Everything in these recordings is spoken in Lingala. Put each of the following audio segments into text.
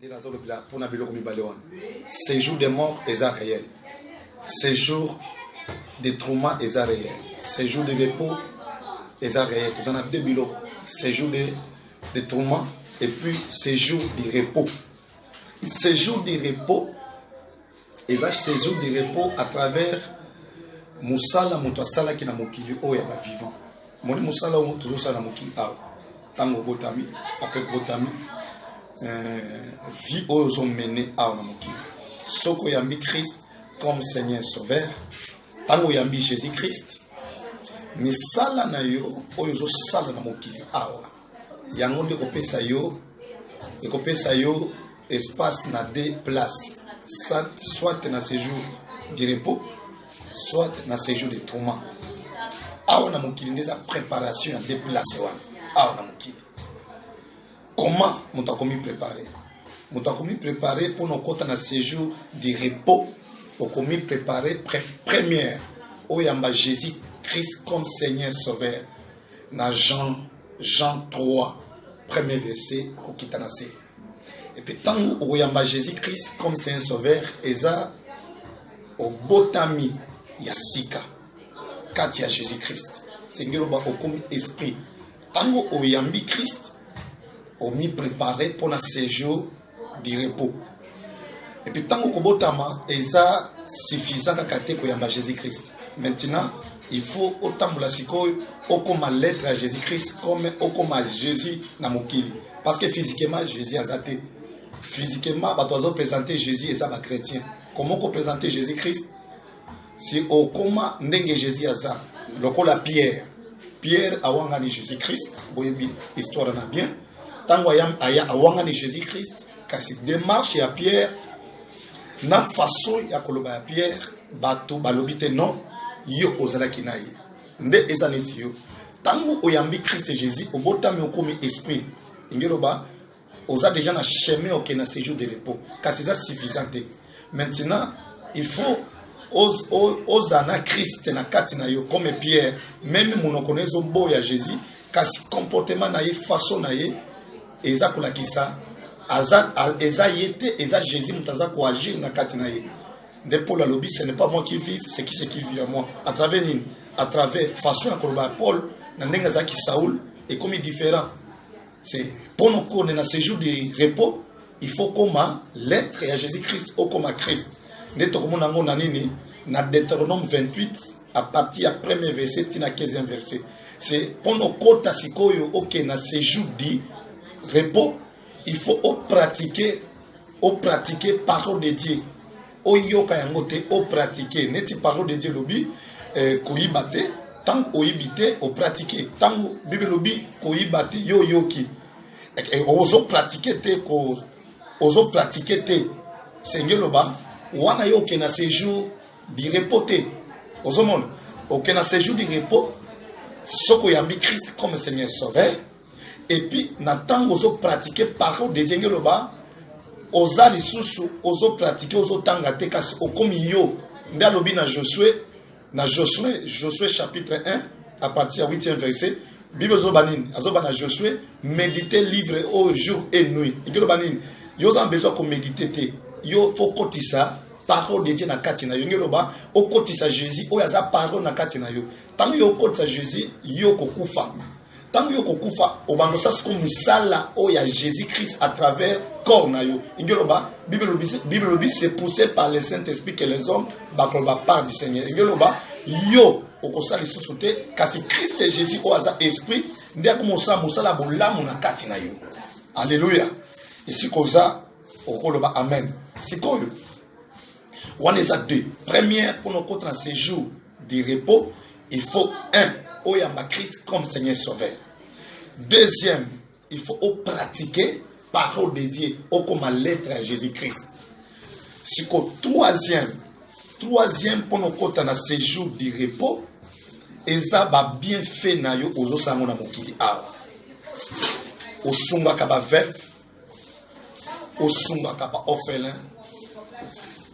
nde nazolobela mpona biloko mibale wana séjour de mort eza réel séjour de trauma eza réel séjour de repos eza réel toza na deux biloko séjour de, de trauma et puis séjour de repos séjour de repos eza saison de repos à travers mosala moto asalaki na mokili oyo ya bavivant moni mosala oyo tozosala na mokili awa ntango obotami apres obotami euh, vie oyo ozomene awa na mokili soki oyambi christ comme seigneur sauveur ntango oyambi jésus christ misala na yo oyo ozosala na mokili awa yango nde ekopesa yo ekopesa yo espace na deux places soit na séjour du repos soit na séjour de tourment awa na mokili nde eza préparation ya deux places wana awa na mokili comment moto akomi préparer moto akomi prépare mpo na okota na séjour du repos okomi prépare première oyamba jésus christ comme seigneur sauveur na jean jean 3 premier verset kokita na se epe ntango okoyamba jésus christ comme c'est un sauveur eza obotami ya sika kati ya jésus christ sengeli oba okomi esprit ntango oyambi christ omiprepare mpo na séjour du repos epuis ntango kobotama eza suffisant kaka te koyamba jésus christ maintenant il faut otambola sikoyo okoma lettre ya jésus christ comme okoma jésus na mokili parce que physiquement jésus aza te physiquement bato bazopresente jésus eza bachrétien comment okopresente jésus christ si okoma ndenge jésus aza lokola pierre pierre awangani jésus christ boyebi histoire na bien ntango aya, aya awangani jésus christ kasi démarche ya pierre na façon ya koloba ya pierre bato balobi te non yo ozalaki na ye nde eza neti yo ntango oyambi christ jésus obotami okomi esprit ingeloba oza déjà na chemin oke na séjour de repos kasi eza suffisant te maintenant il faut oza na kriste na kati na yo comme pierre meme monoko na ezoboya jésus kasi comportement na ye façon na ye eza kolakisa aza eza ye te eza jésus moto aza koagir na kati na ye nde paul alobi ce n'est pas moi qui vive c'est qui c'est qui vit à moi à travers nini à travers façon ya koloba ya paul na ndenge azalaki saul ekomi différent c'est mpo nokone na séjour de repos il faut koma lettre ya jésus christ okoma christ nde tokomona yango na nini na deuteronome 28 à partir ya premier verset ti na 15e verset c'est mpo nokota sikoyo oke na séjour du repos il faut opratique opratique parole de dieu oyoka yango te o pratique neti parole de Dieu lobi eh, koyiba te ntango oyibi te opratike ntango bible elobi koyiba te yo oyoki ozopratike te ozopratike te senge eloba wana yo oke na séjour du repos te ozomona oke na séjour du repos soki oyambi christ comme seigneur sauveur et puis na ntango ozo pratique parole de dieu ngeloba oza lisusu ozo pratique ozotanga te kasi okomi yo nde alobi na josue na josue josue chapitre 1 à partir ya 8e verset bible ezoba nini azoba na josue médite livre oyo jour et nuit ekeloba nini yo oza na besoin ya komédite te yo fo kotisa parole de dieu na kati na yo nge eloba okotisa jésus oyo aza parole na kati na yo ntango yo okotisa jésus yo okokufa ntango yo kokufa obanda osa siko mosala oyo ya jésus christ à travers corps na yo ingi oloba bible lobi se poussé par le saint esprit que les hommes bakoloba part du seigneur ingi oloba yo okosala lisusu te kasi christ jésus oyo aza esprit nde akomosala mosala ya bolamu na kati na yo alleluya esika oza okoloba amen sikoyo wana eza deux première mpona okota na séjour du repos il faut un oyamba christ comme seigneur sauveur deuxième il faut opratique parole de dieu okoma lettre ya jésus christ siko troisième troisième mpo na okota na séjour du repos eza babienfait na yo ozosala yango na mokili awa osungaka baveuve osungaka ba orphelin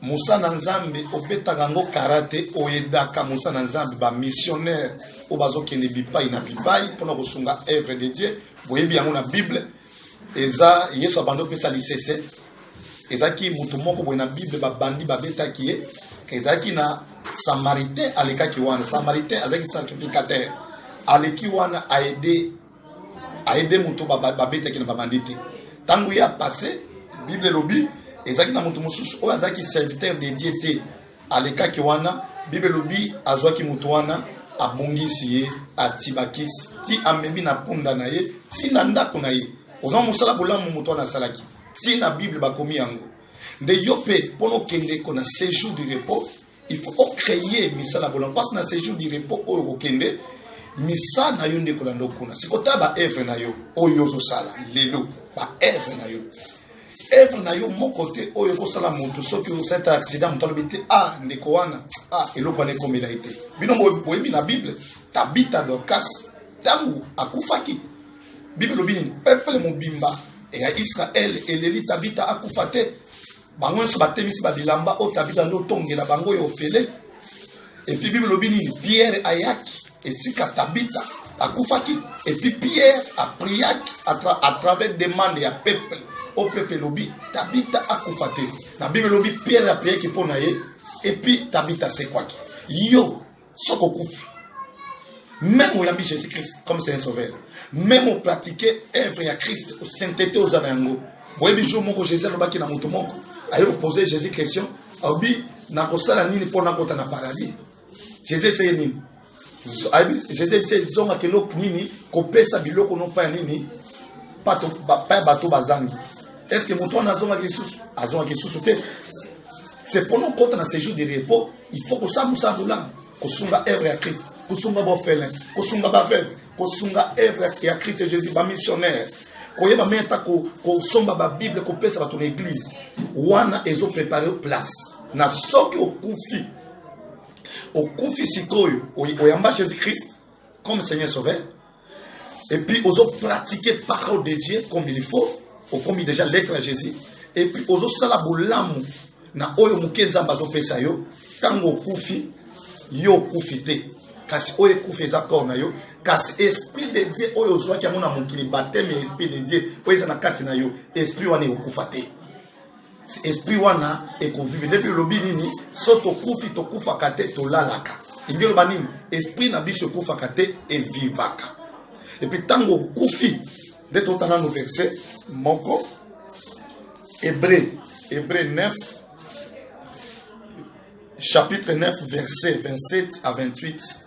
mosala na nzambe obetaka yango karate oyedaka mosala na nzambe bamissionnaire oyo bazokende bipai na bipai mpona kosunga evre de dieu boyebi yango na bible eza yesu abandi opesa lisese ezalaki moto moko boye na bible babandi babetaki ye ezalaki na samaritain alekaki wana samaritain azalaki sacrificateur aleki wana aide aide moto babetaki na babandi te ntango ye apasse bible elobi ezalaki na moto mosusu oyo azalaki serviteur de dieu te alekaki wana bible elobi azwaki moto wana abongisi ye atibakisi ti amemi na punda na ye ti na ndako na ye oza mosala bolamu moto wana asalaki ti na bible bakomi yango nde yo mpe mpo na okende ko na séjour du repos il faut o créer misala bola mpasi na séjour du repos oyo kokende misa na yo nde kolanda okuna sikotala baevre na yo oyo ozosala lelo baevre na yo evre na yo moko te oyo ekosala moto soki osata accident moto alobi te a ah, ndeko wana a ah, eloko wana ekomela ye te bino boyebi na bible tabita dorkas ntango akufaki bible elobi nini peuple mobimba ya israele eleli tabita akufa te bango nyonso batemisi babilamba oyo tabita nde otongela bango oyo ofele epuis bible elobi nini pierre ayaki esika tabita akufaki epuis pierre apriaki à travers demande ya peuple o peuple elobi tabita akufa te na bible elobi pierre apriaki mpo na ye epuis tabita asekwaki yo soki okufi même oyambi jésus christ comme c'est un sauveur même opratique œuvre ya christ saintete oza na yango oyebi jour moko jésus alobaki na moto moko aye kopose jésus question alobi nakosala nini mpo nakota na paradis jésus eteye nini jésus ebisa ezongaka eloko nini kopesa biloko nopa ya nini pa ya bato bazangi est ce que moto wana azongaki lisusu azongaki lisusu te c'est mpo nokota na séjour de repos il faut kosala mosala bolamu kosunga œuvre ya christ kosunga bofele kosunga baveuve kosunga œuvre ya christ jésus bamissionnaire koyeba meme ata kosomba babible kopesa bato na eglize wana ezoprepare place na soki okufi okufi sikoyo oyamba jésus christ comme seigneur sauveur et puis ozo pratiquer parole de Dieu comme il faut okomi déjà lettre à Jésus et puis ozo sala bolamu na oyo moke nzambe azopesa yo ntango okufi yo okufi te kasi oyo ekufi eza corps na yo kasi esprit de dieu oyo ozwaki yango na mokili bateme ya esprit de dieu oyo eza na kati na yo esprit wana ekokufa te esprit wana ekovive nde mpe elobi nini so tokufi tokufaka te tolalaka elingi eloba nini esprit na biso ekufaka te evivaka epuis ntango okufi nde totanga no verse moko hebreu hebreu 9 chapitre 9 verset 27 à 28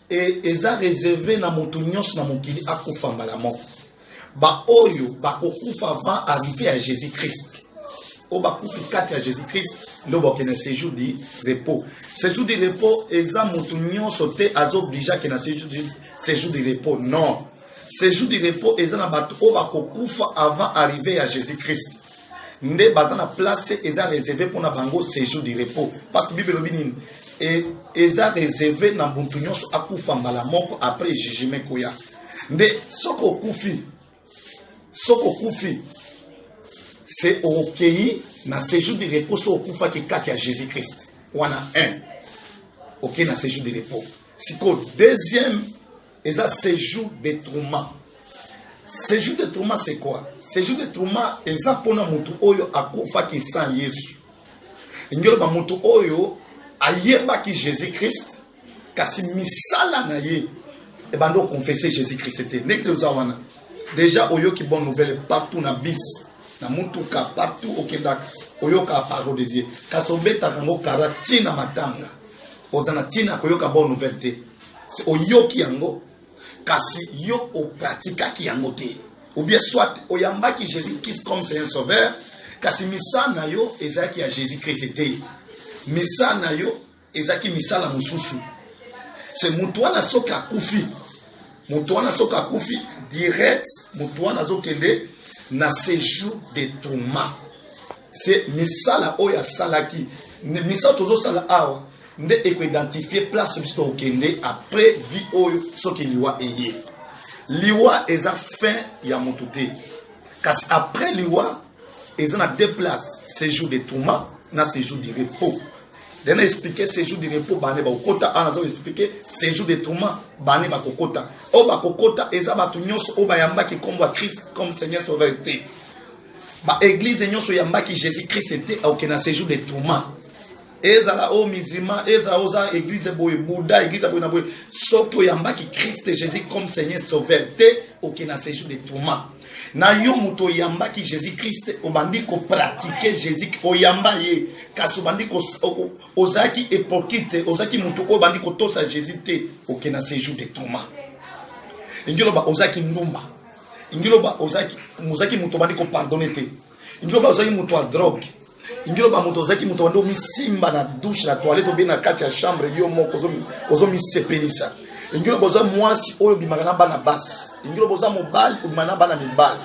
e, eza reserve na moto nyonso na mokili akufa mbala moko baoyo bakokufa avant arrive ya jésus christ oyo bakufi kati ya jésus christ nde bakende séjour du repos séjour du repos eza moto nyonso te azooblige akende séjour du repos non séjour du repos eza na bato oyo bakokufa avant arrive ya jésus christ nde baza na place eza reserve mpona bango séjour du repos parce que bible elobi nini e, eza reserve na muntu nyonso akufa mbala moko après jugement ekoya nde soki okufi soki okufi se okei na séjour du repos soki okufaki kati ya jésus christ wana 1 okei na séjour du repos sikoyo deuxième eza séjour de Truman séjour de Truman c'est quoi séjour de Truman eza mpona motu oyo akufaki sans yesu elingi oloba motu oyo ayebaki jésus christ kasi misala na ye ebanda okonfese jésus christ te ndenge toza wana deja oyoki bonne nouvelle partout na bis na motuka partout okendaka oyokaka parole de dieu kasi obetaka yango kara ntina matanga oza na ntina koyoka bonne nouvelle te oyoki yango kasi yo opratikaki yango te ou bien soit oyambaki jésus christ comme c'est un sauveur kasi misa na yo ezalaki ya jésus christ te misa na yo ezalaki misala mosusu se moto wana soki akufi moto wana soki akufi direct moto wana azokende na séjour de tourment se misala oyo asalaki misala tozosala awa nde ekoidentifie place biso tokokende après vie oyo soki liwa eye liwa eza fin ya motu te kasi après liwa eza na deux places séjour de tourment na séjour du repos dena explike séjour du repos bane bakokota awa naza explike séjour de tourment bane bakokota oyo bakokota eza bato nyonso oyo bayambaki nkombo ya christ comme seigneur sauveur te ba eglise nyonso yambaki jésus christ ete aoke na séjour de tourment ezala oyo musulman ezala oza eglise boye bouddha eglise boye na boye soki oyambaki christ jésus comme seigneur sauveur te oke na séjour de tourment na yo moto oyambaki jésus christ obandi kopratike jésus oyamba ye kasi obandi ozalaki epokite ozalaki moto oyo obandi kotosa jésus te oke na séjour de tourment elingi oloba ozalaki ndumba ingiloba ozaki mozaki moto obandi kopardone te ingiloba ozaki moto ya drogue ingiloba moto ozaki moto obandi omisimba na douche na toilette obe na kati ya chambre yo moko ozomisepelisa ingiloba oza mwasi oyo obimaka na bana basi ingiloba oza mobali obima na bana mibali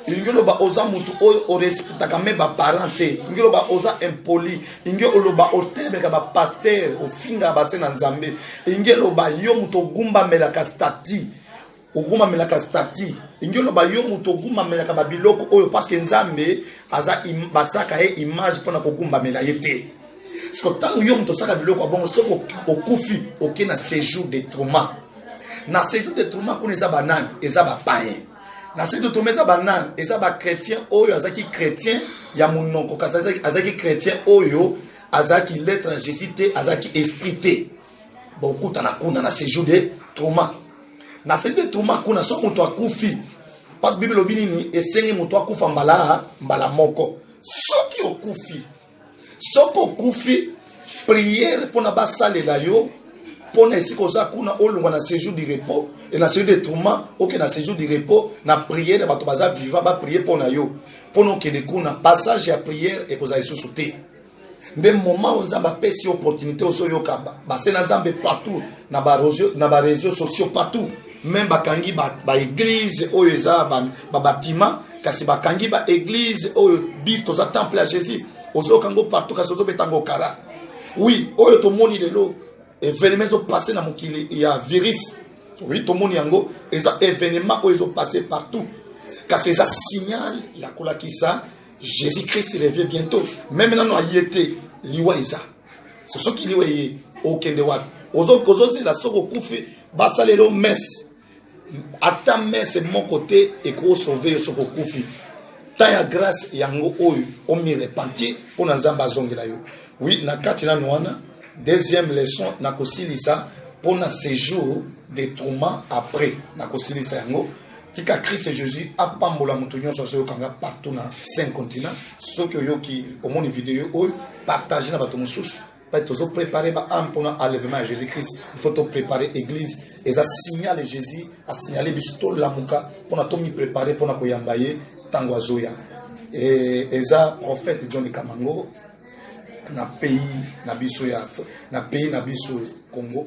ilingi oloba oza motu oyo orespectaka me baparent te ilingi oloba oza impoli ilingi oloba otelemeka bapaster ofingaka base na nzambe ilingi eloba yo moto ogumbamelaka stati ogumamelaka stati ingi oloba yo moto ogumamelaka babiloko oyo parceke nzambe aza basaka ye image mpona kogumbamela ye te siko ntango yo moto osaka biloko ya bongo soki okufi oke na séjour de trauma na séjour de trauma kuna eza banani eza bapayen na séjour de trauma eza banani eza bachrétien oyo azalaki chrétien ya monoko kasi azalaki chrétien oyo azalaki lettre ya jésus te azalaki esprit te bokutana kuna na séjour de trauma na séjour de trauma kuna so moto akufi parce bible elobi nini esengi moto akufa mbala mbala moko soki okufi soki okufi priere mpona basalela yo mpona esika oza kuna olongwa na séjour du repos e na séjour de tourment oke na séjour du repos na priere bato baza viva baprie mpo na yo mpona okende kuna passage ya priere ekozala lisusu te nde moment oyo nzambe apesi yo opportunité ozoyoka base na nzambe partout na bareseau sociaux partout meme bakangi baeglise ba oyo eza babatima ba kasi bakangi baeglise oyo bis toza temple ya jésus ozoyoka yango partout kasi ozobeta yango kara oui oyo tomoni lelo evenema ezopasse na mokili ya virus oui tomoni yango eza evenema oyo ezopasse partout kasi eza signal ya kolakisa Jésus Christ revient bientôt. Même nano aye te liwa eza. C'est ce qui liwa ye okende wapi. Ozo kozo zela soko kufi basalelo messe. Ata messe moko te eko sauver yo soko kufi. Ta ya grâce yango oyo o mi repentir mpo na Nzambe azongela yo. Oui, na kati nano wana deuxième leçon na kosilisa mpo na séjour de tourment après na kosilisa yango tika christ jésus apambola moto nyonso azoyoka nga partout na cinq continent soki oyoki omoni video oyo partage na bato mosusu mpe tozoprépare baame mpona enlèvement ya jésus christ il faut toprépare église eza signale jésus asignale biso tolamuka mpona tomiprépare mpona koyamba ye ntango azoya e, eza prophète john kamango na pays na biso ya na pays na biso congo